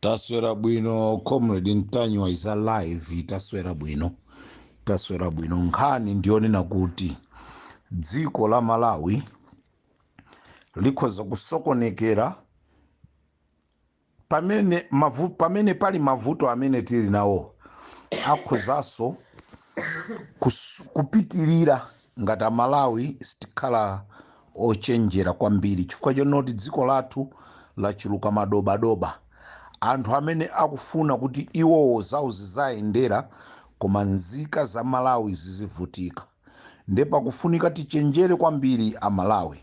taswera bwino comrade ntanyiwa is alive taswera bwino taswera bwino nkhani ndiyonena kuti dziko la malawi likhoza kusokonekera pamene mavu, pamene pali mavuto amene tili nawo akhozanso kus- kupitirira ngati amalawi sitikhala ochenjera kwambiri chifukwa chonoti dziko lathu lachuluka madobadoba anthu amene akufuna kuti iwowo zawo zizayendera koma nzika za malawi zizivutika nde pakufunika tichenjere kwambiri amalawi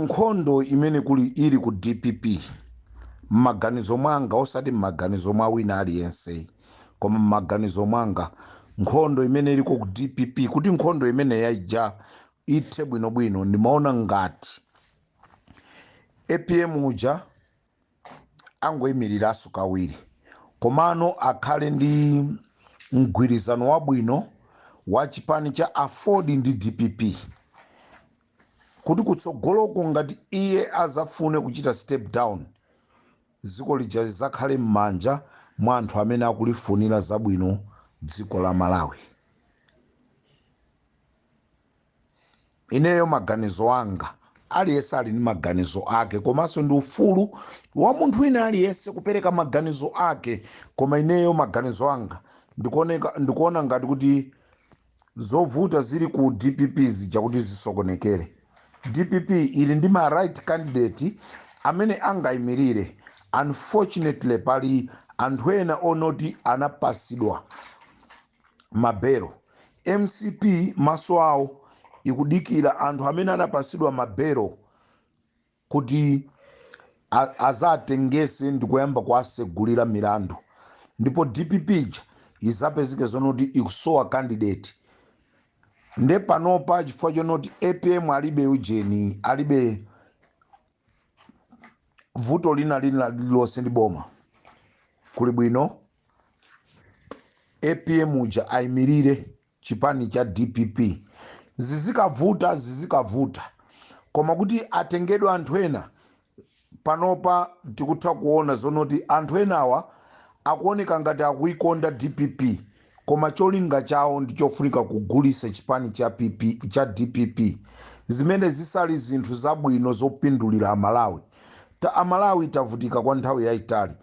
nkhondo imene kuli ili ku dpp m'maganizo mwanga osati m'maganizo mwa wina aliyense koma m'maganizo mwanga nkhondo imene iliko ku dpp kuti nkhondo imene ijayi ithe bwinobwino ndimaona ngati apm uja angoyimiriranso kawiri komano akhale ndi mgwirizano wabwino wa chipani cha aford ndi dpp kuti kutsogoloko ngati iye azafune kuchita step down Dziko lija lidzakhale mmanja mwa anthu amene akulifunira zabwino dziko la Malawi. Ineyo maganizo anga, aliyense ali ndi maganizo ake komanso ndi ufulu wa munthu wina aliyense kupereka maganizo ake koma ineyo maganizo anga ndikuon- ndikuona ngati kuti zovuta zili ku dpp zija kuti zisokonekere dpp ili ndi ma right candidate amene angayimirire unfortunately pali anthu ena onoti anapasidwa mabelo mcp maso awo ikudikira anthu amene anapasidwa mabelo kuti a- azatengese ndikuyamba kuwasegulira milandu ndipo dpp ija izapezeke zonoti ikusowa candidate nde panopa chifukwa chonoti apm alibe ujeni alibe vuto lina lina lililonse ndi boma kuli bwino apm uja ayimirire chipani cha dpp zizikavuta zizikavuta koma kuti atengedwe anthu ena panopa tikutha kuona zonoti anthu enawa akuoneka ngati akuikonda dpp koma cholinga chawo ndi chofunika kugulisa chipani cha, cha dpp zimene zisali zinthu zabwino zopindulira amalawi ta amalawi tavutika kwa nthawi yayitali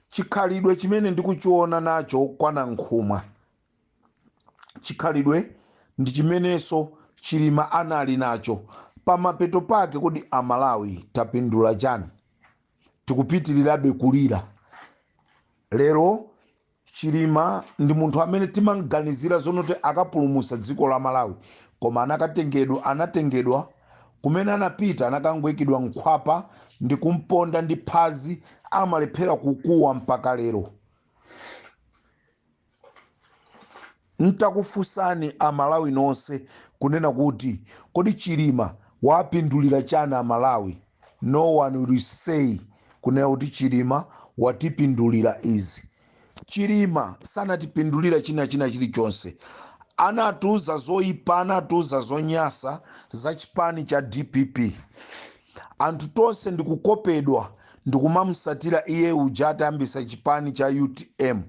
chikhalidwe chimene ndikuchiona nacho kwa nankhumwa chikhalidwe ndi chimenenso chilima anali nacho pamapeto pake kodi amalawi tapindula chani tikupitirirabe kulira lero chilima ndi munthu amene timamganizira zonoti akapulumusa dziko la malawi koma anakatengedwa anatengedwa kumene anapita anakangoikidwa mkhwapa ndi kumponda ndi phazi amalephera kukuwa mpaka lero Ntakufusani amalawi nose kunena kuti kodi chilima waapindulila chani amalawi no one will say kunena kuti chilima watipindulila izi chilima sanatipindulila china china chilichonse anatiuza zoyipa anatiuza zonyasa za chipani cha dpp anthu tonse ndikukopedwa ndikumamusatira iye uja atayambisa chipani cha utm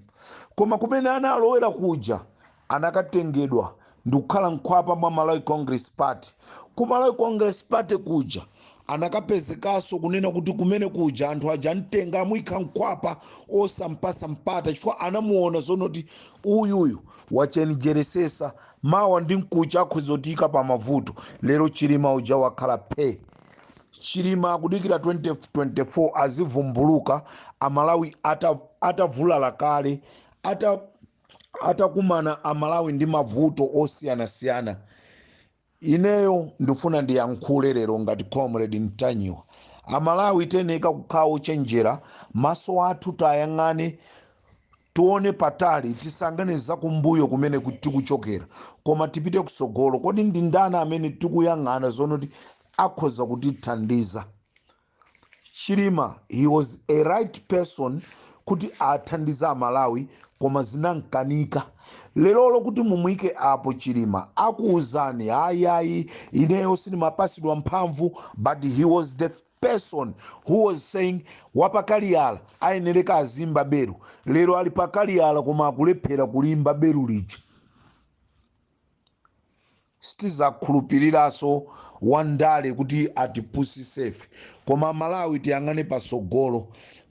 koma kumene analowera kuja anakatengedwa ndikukhala mkhwapa mwa malawi congress party ku malawi congress party kuja anakapezekaso kunena kuti kumene kuja anthu aja amtenga amuyika mkhwapa osampasa mpata chifukwa anamuona zonoti uyuyu wachenjeresesa Mawa ndi mkucha akhoza kutiika pa mavuto. Lero Chilima uja wakhala phee. Chilima akudikira 2024 azivumbuluka Amalawi ata atavulala kale ata atakumana Amalawi ndi mavuto osiyanasiyana. Ineyo ndifuna ndiyankhule lero ngati Comrade Ntanyiwa. Amalawi tiyeneka kukhala ochenjera, maso athu tayang'ane Tione patali, tisayang'ane zakumbuyo kumene ku- tikuchokera, koma tipite kutsogolo. Kodi ndi ndani amene tikuyang'ana zonoti akhoza kutithandiza? Chilima, he was a right person kuti athandize Amalawi koma zinamkanika. Lerolo kuti mumuyike apo Chilima akuwuzani ayayi ineyo sindimapasidwa mphamvu but he was the person who was saying wapakaliyala ayenereka aziimba beru lero ali pakaliyala koma akulephera kuliimba beru lija sitizakhulupiriraso wandale kuti atipusisefe koma malawi tiyang'ane pasogolo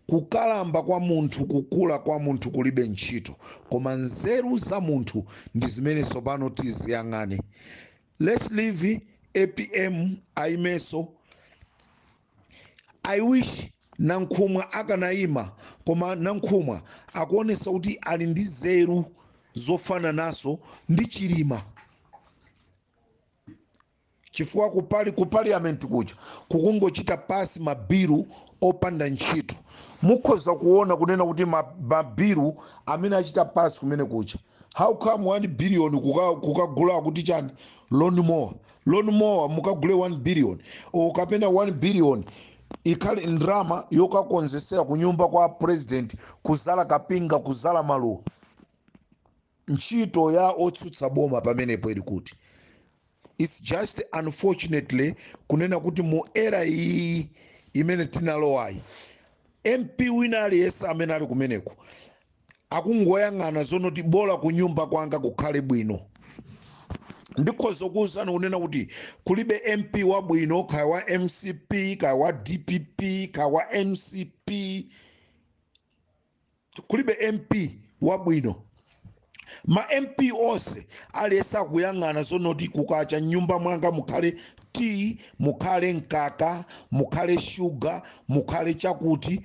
kukalamba kwa munthu kukula kwa munthu kulibe ntchito koma nzeru za munthu ndi zimene tsopano tiziyang'ane Let's leave apm ayimeso. I wish Nankhumwa akanayima koma Nankhumwa akuonesa kuti ali ndi zeru zofananaso ndi Chilima. Chifukwa ku pali- ku parliament kuja kukungochita pasi mabilu opanda ntchito. Mukhoza kuona kunena kuti ma- mabilu amene achita pasi kumene kuja how come 1 billion kuka- kukagula kuti chani lawn mower lawn mower mukagule 1 billion o kapena 1 billion ikhale ndrama yokakonzesera kunyumba kwa president kuzala kapinga kuzala maluwa ntchito ya otsutsa boma pamenepo ili kuti it's just unfortunately kunena kuti mu era iyi imene tinalowayi mp wina aliyense amene ali kumeneko akungoyang'ana zonoti bola kunyumba kwanga kukhale bwino ndikhoza kuwuzani kunena kuti kulibe mp wabwino kaya wa mcp kaya wa dpp kaya wa mcp kulibe mp wabwino ma mp onse aliyense akuyang'ana zonoti kukacha mnyumba mwanga mukhale tiyi mukhale mkaka mukhale shuga mukhale chakuti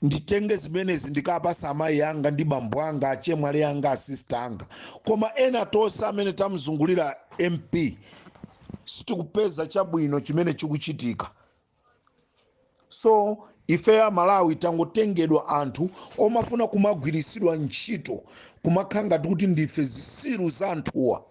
nditenge zimenezi ndikapase amayi anga ndi bambo anga achemwali anga asista anga koma ena tonse amene tamzungulira mp sitikupeza chabwino chimene chikuchitika so ifeyo amalawi tangotengedwa anthu omafuna kumagwiritsidwa ntchito kumakhala ngati kuti ndife zisiru za anthuwa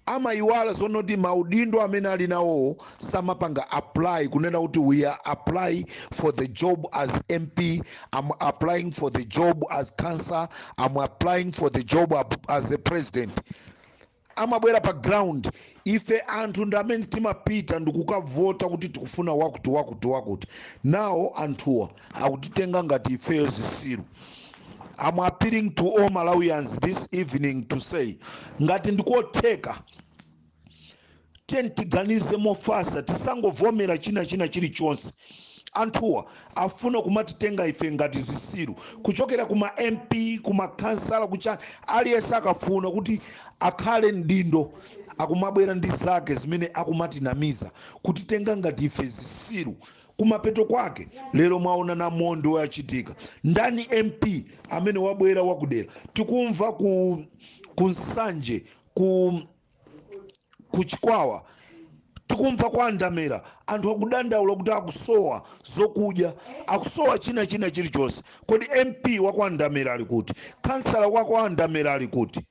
amayiwala zonoti maudindo amene ali nawowo samapanga apply kunena kuti we are applying for the job as mp am applying for the job as councillor am applying for the job ap- as a president amabwera pa ground ife anthu ndi amene timapita ndikukavota kuti tikufuna wakuti wakuti wakuti now anthuwa akutitenga ngati ifeyo zisiru I'm appealing to all Malawians this evening to say ngati ndikotheka tiyeni tiganize mofasa tisangovomera china china chilichonse anthuwa afuna kumatitenga ife ngati zisiru kuchokera kuma mp kuma kansala kuchani aliyense akafuna kuti akhale mdindo akumabwera ndi zake zimene akumatinamiza kutitenga ngati ife zisiru kumapeto kwake lero mwaona namondwe wachitika ndani mp amene wabwera wakudera tikumva ku ku nsanje ku kuchikwawa tikumva kwa ndamera anthu akudandaula kuti akusowa zokudya akusowa china china chilichonse kodi mp wa kwa ndamera ali kuti kansala wa kwa ndamera ali kuti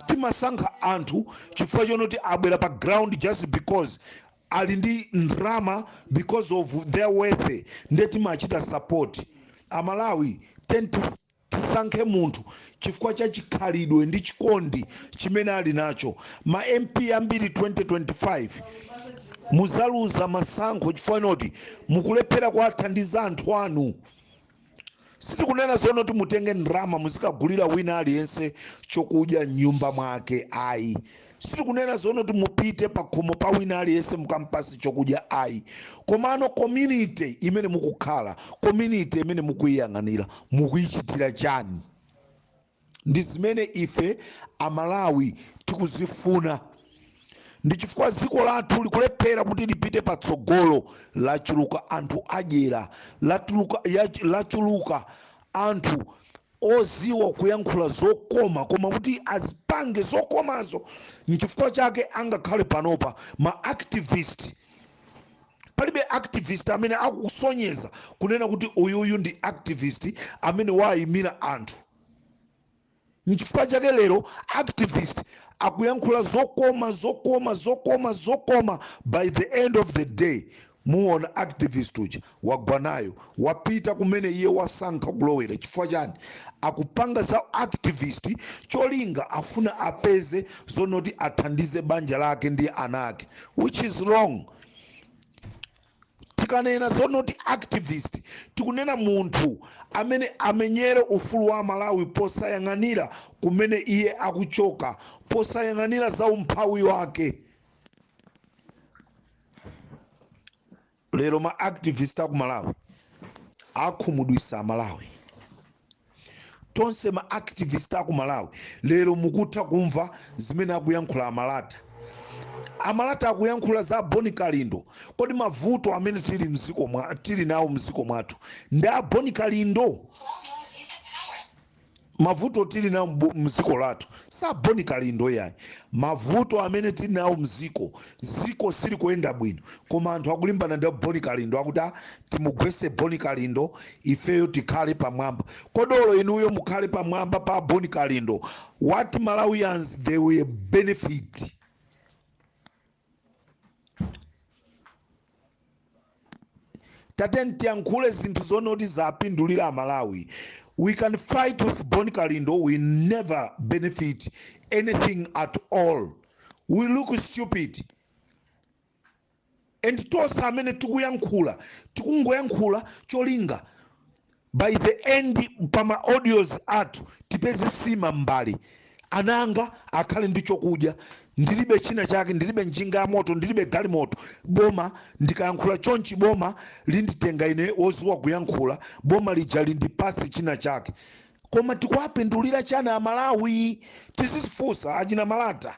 timasankha anthu chifukwa chonoti abwera pa ground just because ali ndi ndrama because of their wealth nde timachita support amalawi tiyeni tis- tisankhe munthu chifukwa cha chikhalidwe ndi chikondi chimene ali nacho ma mp ambiri 2025 muzaluza masankho chifukwa chonoti mukulephera kuwathandiza anthu anu sitikunena zonoti mutenge ndalama muzikagulira wina aliyense chokudya mnyumba mwake ayi sitikunena zonoti mupite pakhomo pa wina aliyense mukampase chokudya ayi komano community imene mukukhala community imene mukuyiyang'anira mukuyichitira chani ndi zimene ife amalawi tikuzifuna ndi chifukwa dziko lathu likulephera kuti lipite patsogolo lachuluka anthu adyera lachuluka anthu oziwa kuyankhula zokoma koma kuti azipange zokomazo nchifukwa chake angakhale panopa ma activist palibe activist amene akusonyeza kunena kuti uyuyu ndi activist amene waayimira anthu nchifukwa chake lero activist akuyankhula zokoma zokoma zokoma zokoma by the end of the day muona activist uja wagwa nayo wapita kumene iye wasankha kulowera chifukwa chani akupanga za activist cholinga afuna apeze zonoti athandize banja lake ndi ana ake which is wrong tikanena zonoti activist tikunena munthu amene amenyere ufulu wa malawi posayang'anira kumene iye akuchoka posayang'anira za umphawi wake lero ma activist aku malawi akhumudwisa amalawi tonse ma activist aku malawi lero mukutha kumva zimene akuyankhula amalata amalata akuyankhula za boni kalindo kodi mavuto amene tili nawo mziko mwathu ndi a boni kalindo mavuto tili nawo mziko lathu si a boni kalindo iyayi mavuto amene tili nawo mziko ziko sili kuyenda bwino koma anthu akulimbana ndi boni kalindo akuti "Ah, timugwese boni kalindo ifeyo tikhale pamwamba kodi olo inuyo mukhale pamwamba pa boni kalindo what malawians they will benefit tateni tiyankhule zinthu zonoti zapindulira amalawi we can fight with boni kalindo we never benefit anything at all we look stupid and tonse amene tikuyankhula tikungoyankhula cholinga by the end pa ma audios athu tipeze sima m'mbale ana anga akhale ndi chokudya ndilibe china chake ndilibe njinga ya moto ndilibe galimoto boma ndikayankhula chonchi boma linditenga ine woziwa kuyankhula boma lija lindipase china chake koma tikuwapindulira chani amalawi tizizifunse achina malata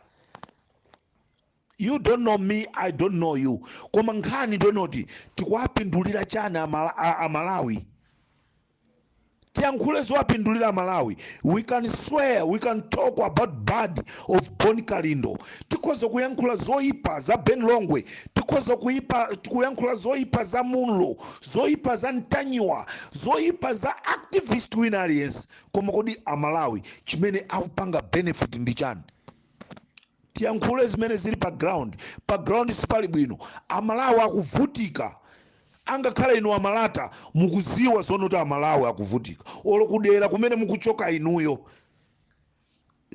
you don't know me i don't know you koma nkhani ndiyonena kuti tikuwapindulira chani amala- a, amalawi tiyankhule zowapindulira amalawi we can swear we can talk about bad of bon kalindo tikhoza kuyankhula zoyipa za ben longwe tikhoza kuyipa kuyankhula zoyipa za munlo zoyipa za ntanyiwa zoyipa za activist wina aliyense koma kodi amalawi chimene akupanga benefit ndi chani tiyankhule zimene zili pa ground pa ground sipali bwino amalawi akuvutika angakhale inu amalata mukuziwa zonoti amalawi akuvutika olo kudera kumene mukuchoka inuyo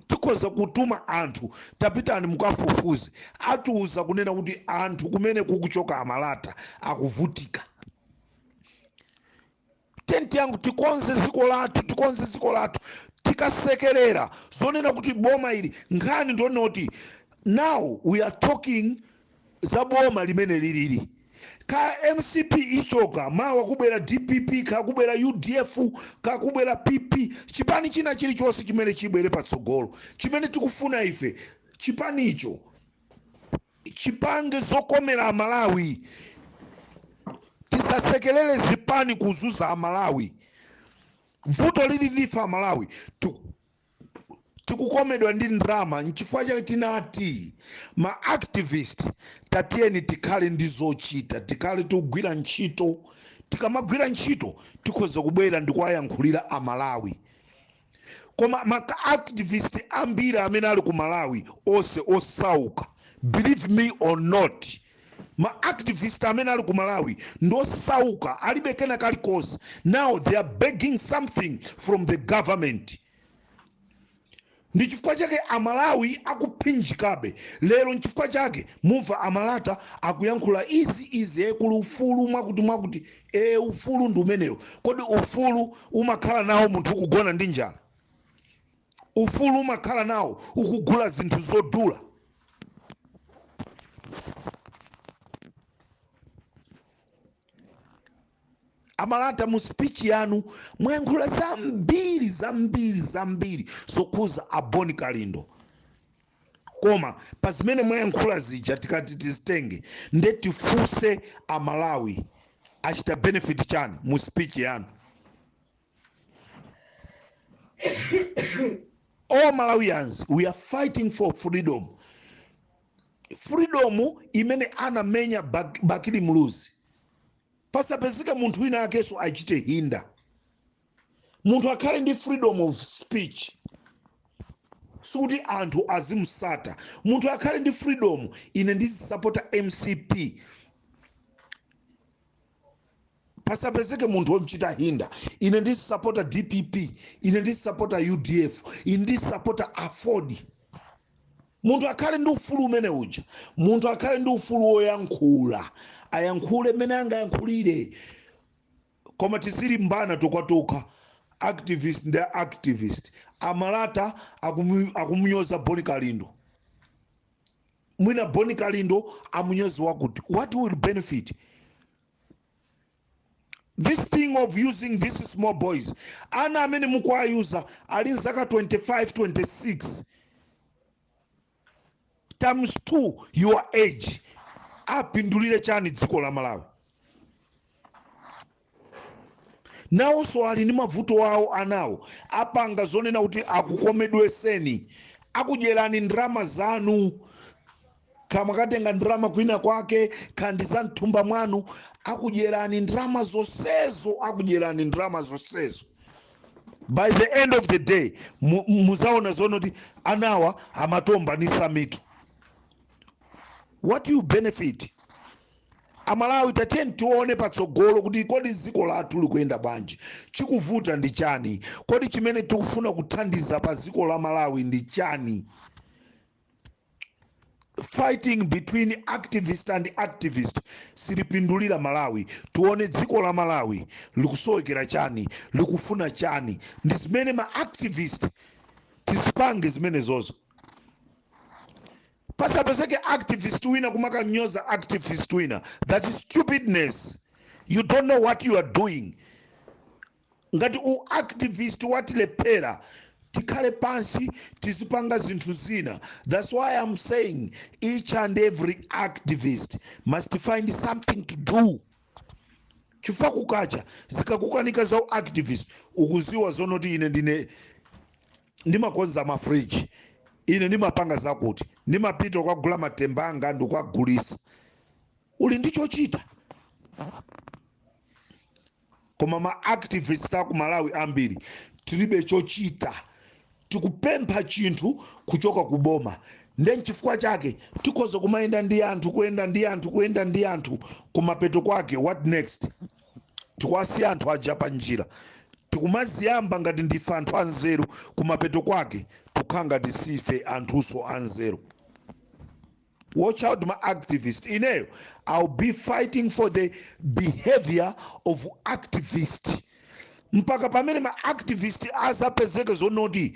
tikhoza kutuma anthu tapitani mukafufuze atiuza kunena kuti anthu kumene kukuchoka amalata akuvutika boma lathu tikonze dziko lathu tikonze dziko lathu tikasekerera zonena kuti boma ili nkhani ndonena kuti now we are talking za boma limene lilili ka mcp ichoka mawa kubwera dpp kakubwera udf kakubwera pp chipani china chilichonse chimene chibwere patsogolo chimene tikufuna ife chipanicho chipange zokomera amalawi tisasekelere zipani kuzuza amalawi vuto lili ndife amalawi Tiku- tikukomedwa ndi ndrama nchifukwa chake tinati ma activist tatiyeni tikhale ndi zochita tikhale tikugwira ntchito tikamagwira ntchito tikhoza kubwera ndikuwayankhulira amalawi koma ma activist ambiri amene ali ku malawi onse osauka believe me or not ma activist amene ali ku malawi ndosauka alibe kena kalikonse now they are begging something from the government ndi chifukwa chake amalawi akuphinjikabe lero nchifukwa chake mumva amalata akuyankhula izi izi e kuli ufulu mwakuti mwakuti e ufulu ndi umenewo kodi ufulu umakhala nawo munthu ukugona ndi njala ufulu umakhala nawo ukugula zinthu zodula amalata mu speech yanu mwayankhula zambiri zambiri zambiri zokhuza a bon kalindo koma pa zimene mwayankhula zija tikati tizitenge nde tifunse amalawi achita benefit chani mu speech yanu all malawians we are fighting for freedom freedom imene anamenya Bak- bakili muluzi pasapezeka munthu wina wakenso achite hinder munthu akhale ndi freedom of speech sikuti anthu azimusata munthu akhale ndi freedom ine ndizisapota mcp pasapezeke munthu womchita hinda ine ndizisapota dpp ine ndizisapota udf ine ndizisapota aford munthu akhale ndi ufulu umene uja munthu akhale ndi ufulu woyankhula ayankhule mmene angayankhulire koma tizilimbana tokhatokha activist ndi activist amalata akumu- akumunyoza boni kalindo mwina boni kalindo amunyoze wakuti what will benefit this thing of using these small boys ana amene mukuwayuza ali mzaka 25 26 times 2 your age apindulire chani dziko la malawi nawonso ali ndi mavuto awo anawo apanga zonena kuti akukomedweretseni akudyerani ndalama zanu kaya mwakatenga ndalama kwina kwake kaya ndi za mthumba mwanu akudyerani ndalama zonsezo akudyerani ndalama zonsezo by the end of the day mu- muzaona zonena kuti anawa amatombanitsa mitu what you benefit amalawi tatiyeni tione patsogolo kuti kodi dziko lathu likuyenda bwanji chikuvuta ndi chani kodi chimene tikufuna kuthandiza pa dziko la malawi ndi chani fighting between activist and activist silipindulira malawi tione dziko la malawi likusowekera chani likufuna chani ndi zimene ma activist tizipange zimenezozo pasapezeke activist wina kumakamnyoza activist wina that's stupidness you don't know what you are doing ngati u activist watilephera tikhale pansi tizipanga zinthu zina that's why i'm saying each and every activist must find something to do chifukwa kukacha zikakukanika za u activist ukuziwa zonoti ine ndine ndimakonza mafriji ine ndimapanga zakuti ndimapita ukagula matemba anga ndikukagulitsa uli ndi chochita koma ma activist aku malawi ambiri tilibe chochita tikupempha chinthu kuchoka ku boma nde nchifukwa chake tikhoza kumayenda ndi anthu kuyenda ndi anthu kuyenda ndi anthu kumapeto kwake what next tikuwasiya anthu aja pa njira tikumaziyamba ngati ndife anthu anzeru kumapeto kwake tukhala ngati sife anthunso anzeru watch out ma activist ineyo i'll be fighting for the behavior of activist mpaka pamene ma activist azapezeke zonoti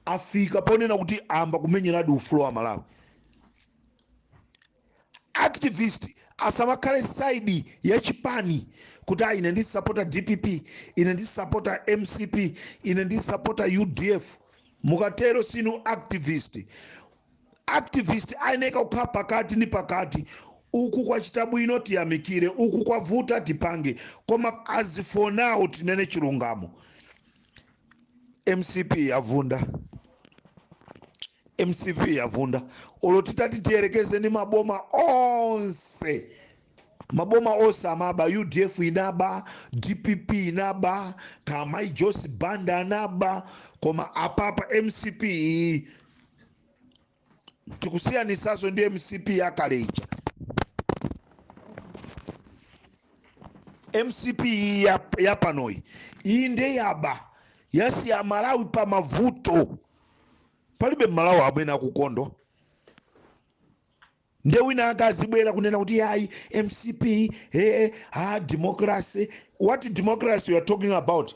afika ponena kuti amba kumenyeradi ufulu wa malawi activist asamakhale side ya chipani kuti ah, ine ndi sapota dpp ine ndi sapota mcp ine ndi sapota udf mukatero sinu activist activist ayeneka kukhala pakati ni pakati uku kwachita bwino tiyamikire uku kwavuta tipange koma as for now tinene chilungamo mcp yavunda mcp yavunda olo titati tiyerekeze ni maboma onse maboma onse amaba udf inaba dpp inaba kamai joyce banda anaba koma apapa mcp iyi tikusiyanisaso ndi mcp yakale ija mcp iyi ya, ya panoyi iyi nde yaba yasiya malawi pa mavuto palibe mmalawi amene akukondwa nde wina ake azibwera kunena kuti yayi mcp ee ha democracy what democracy you are talking about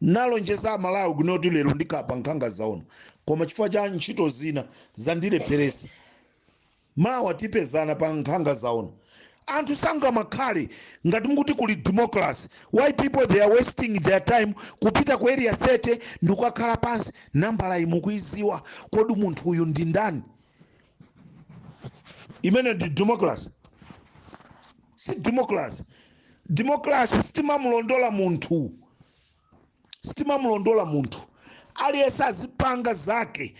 nalonjeza amalawi kunoti lero ndikhala pa nkhanga zaona koma chifukwa cha ntchito zina zandilepheresa mawa tipezana pa nkhanga zaona anthu sangamakhale ngati mukuti kuli democracy why people they are wasting their time kupita ku area 30 ndikukakhala pansi nambala imukuiziwa kodi munthu uyu ndi ndani imene ndi democracy si democracy democracy sitimamulondola munthu sitimamulondola munthu aliyense azipanga zake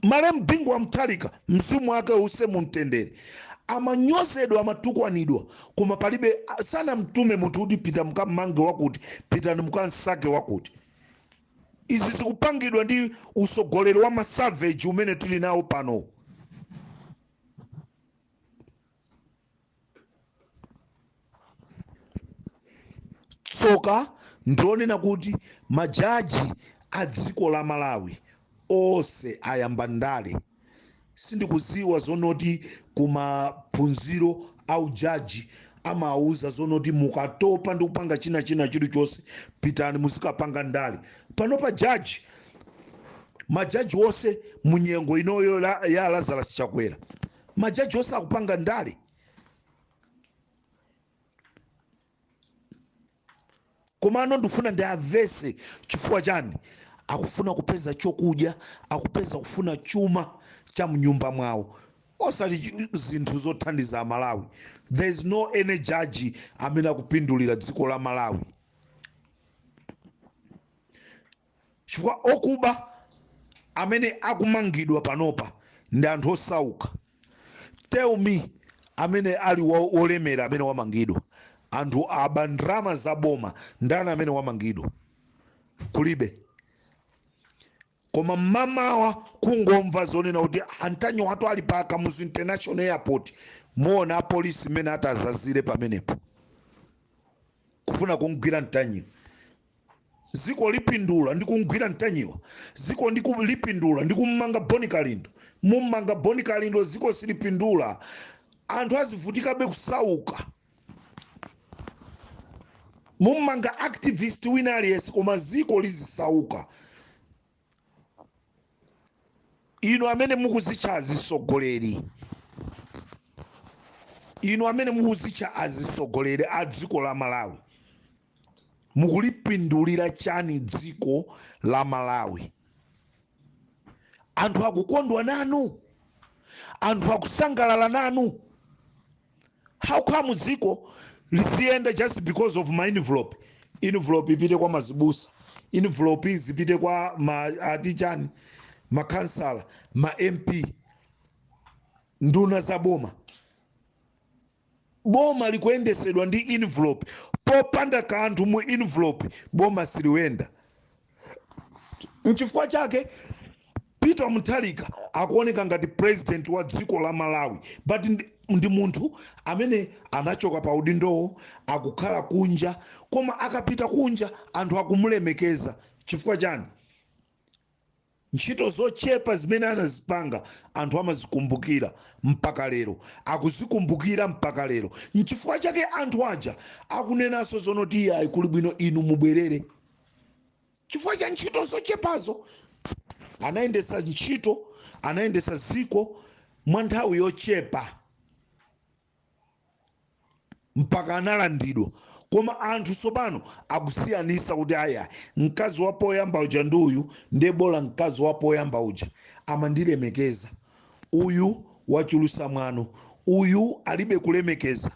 malemu bingu wa mutharika mzimu wake uuse mumtendere amanyozedwa amatukwanidwa koma palibe sanamtume munthu kuti pita mukammange wakuti pitani mukamsake wakuti izi zikupangidwa ndi usogoleri wa masaveji umene tili nawo pano tsoka ndilonena kuti majaji a dziko la malawi onse ayamba ndale sindikuziwa zonoti kumaphunziro a ujaji amawuza zonoti mukatopa ndi kupanga china china chilichonse pitani muzikapanga ndale panopa jaji majaji onse munyengo inoyo la- ya lazarus chakwera majaji onse akupanga ndale komano ndifuna ndiauze chifukwa chani akufuna kupeza chokudya akupeza kufuna chuma cha mnyumba mwawo osati chi- zinthu zothandiza amalawi there is no any judge amene akupindulira dziko la malawi chifukwa okuba amene akumangidwa panopa ndi anthu osauka tell me amene ali wa- wolemera amene wamangidwa anthu aba ndalama za boma ndani amene wamangidwa kulibe koma mmamawa kungomva zonena kuti ntanyiwatu ali pa kamuzu international airport muwona apolisi mmene atazazire pamenepo kufuna kumgwira mtanyiwa ziko lipindula ndi kumgwira mtanyiwa ziko ndi ku- lipindula ndi kummanga boni kalindo mummanga boni kalindo ziko silipindula anthu azivutikabe kusauka mummanga activist wina aliyense koma ziko lizisauka inu amene mukuzitcha azisogoleri inu amene mukuzitcha azisogoleri a dziko la malawi mukulipindulira chani dziko la malawi anthu akukondwa nanu anthu akusangalala nanu how come dziko liziyenda just because of ma envelope envelope ipite kwa mazibusa envelope zipite kwa ma atichani makansala ma mp nduna za boma boma likuyendesedwa ndi envelope popanda kanthu mu envelope boma siliyenda nchifukwa chake peter mutharika akuoneka ngati president wa dziko la malawi but ndi, ndi munthu amene anachoka pa udindowo akukhala kunja koma akapita kunja anthu akumulemekeza chifukwa chani Ntchito zochepa zimene anazipanga anthu amazikumbukira mpaka lero, akuzikumbukira mpaka lero. Nchifukwa chake anthu aja akunenaso zonoti iyayi kuli bwino inu mubwerere chifukwa cha ntchito zochepazo. Anayendesa ntchito, anayendesa dziko mwa nthawi yochepa. mpaka analandidwa koma anthu tsopano akusiyanisa kuti aya mkazi wa poyamba uja ndi uyu ndiye bola mkazi wa poyamba uja amandilemekeza uyu wachulusa mwano uyu alibe kulemekeza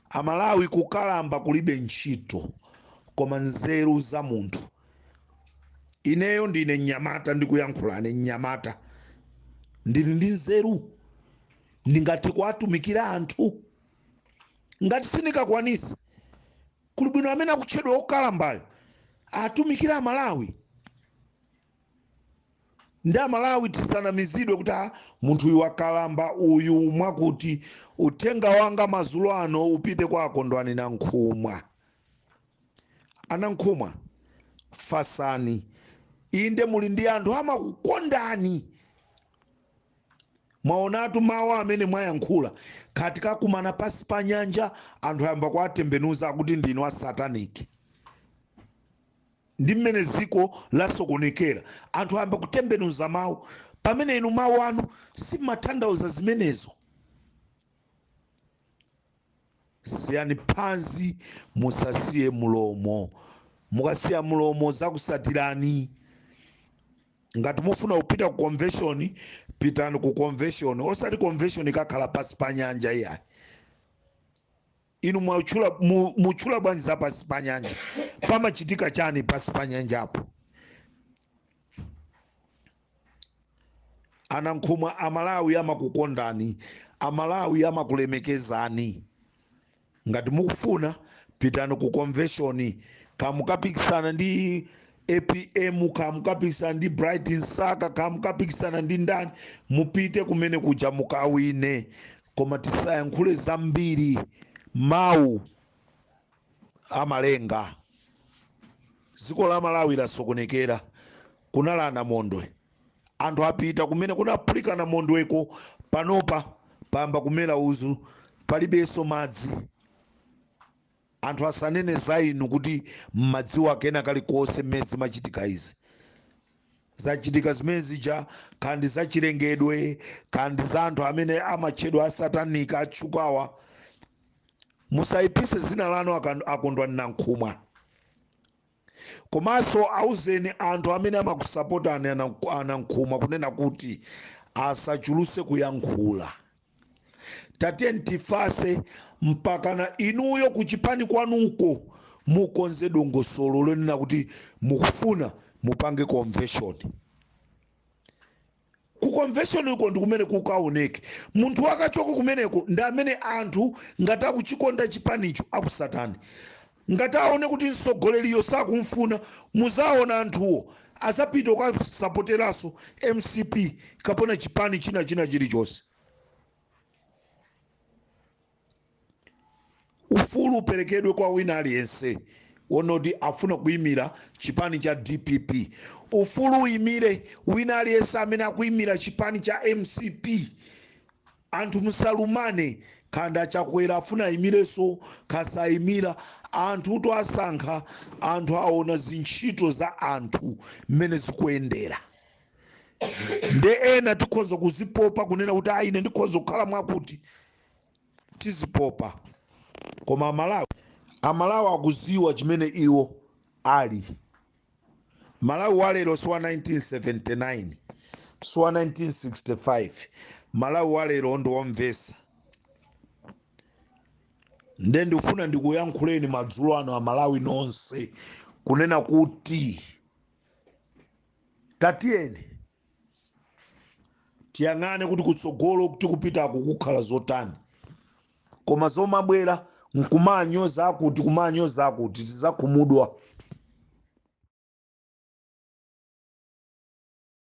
amalawi kukalamba kulibe ntchito koma nzeru za munthu ineyo ndine mnyamata ndikuyankhula ine mnyamata ndili ndi nzeru ndingathe kuwatumikira anthu ngati sindikakwanisa kuli bwino amene akutchedwa okalambayo atumikire amalawi ndi amalawi tisanamizidwe kuti a munthu uyu wakalamba uyu mwakuti uthenga wanga mazulo ano upite kwa akondwani nankhumwa anankhumwa fatsani inde muli ndi anthu amakukondani mwaonatu mawu amene mwayankhula kuti tikakumana pasi pa nyanja anthu ayamba kuwatembenuza akuti ndinu a sataniki Ndi mmene dziko lasokonekera. Anthu ayamba kutembenuza mawu, pamene inu mawu anu simatanthauza zimenezo. Siyani phazi, musasiye mulomo. Mukasiya mulomo zakutsatirani. Ngati mufuna kupita ku convention, pitani ku convention, osati convention ikakhala pansi pa nyanja iyayi. inu mwachula mu- mutchula bwanji za pansi pa nyanja pamachitika chani pansi pa nyanjapo anankhumwa amalawi amakukondani amalawi amakulemekezani ngati mukufuna pitani ku convention kaya mukapikisana ndi apm kaya mukapikisana ndi bright msaka kaya mukapikisana ndi ndani mupite kumene kuja mukawine koma tisayankhule zambiri mawu amalenga dziko la malawi lasokonekera kunali anamondwe anthu apita kumene kunaphulika namondweko panopa payamba kumera uzu palibenso madzi Anthu asanene za inu kuti mmadziwa kena kalikonse mmene zimachitika izi. Zachitika zimene zija kaya ndi zachilengedwe kaya ndi za anthu amene amatchedwa asatanika atchukawa. Musayipitse dzina lanu akan- akondwani Nankhumwa. komanso auzeni anthu amene amakusapotani ana- anankhumwa kunena kuti asachulutse kuyankhula tatiyeni tifatse mpakana inuyo kuchipani kwanuko mukonze dongosolo lonena kuti mukufuna mupange convention ku convention uko ndi kumene kukaoneke munthu akachoka kumeneko ndi amene anthu ngati akuchikonda chipanicho akutsatani ngati aone kuti mtsogoleriyo sakumfuna muzaona anthuwo azapita kukasapoteranso mcp kapena chipani china china chilichonse ufulu uperekedwe kwa wina aliyense wonoti afuna kuyimira chipani cha dpp ufulu uyimire wina aliyense amene akuyimira chipani cha mcp anthu musalumane kaya Chakwera afuna ayimireso akayimire anthuwo asankha anthu aona zintchito za anthu mmene zikuyendera nde ena tikhoza kuzipopa kunena kuti ayi ine ndikhoza kukhala mwakuti tizipopa koma amalawi amalawi akuziwa chimene iwo ali malawi wa lero si wa 1979 si wa 1965 malawi wa lero ndi womvesa nde ndikufuna ndikuyankhuleni madzulo ano amalawi nonse kunena kuti tatiyeni tiyang'ane kuti kutsogolo tikupitaku kukhala zotani koma zomabwera nkumanyoza akuti kumanyoza akuti tizakhumudwa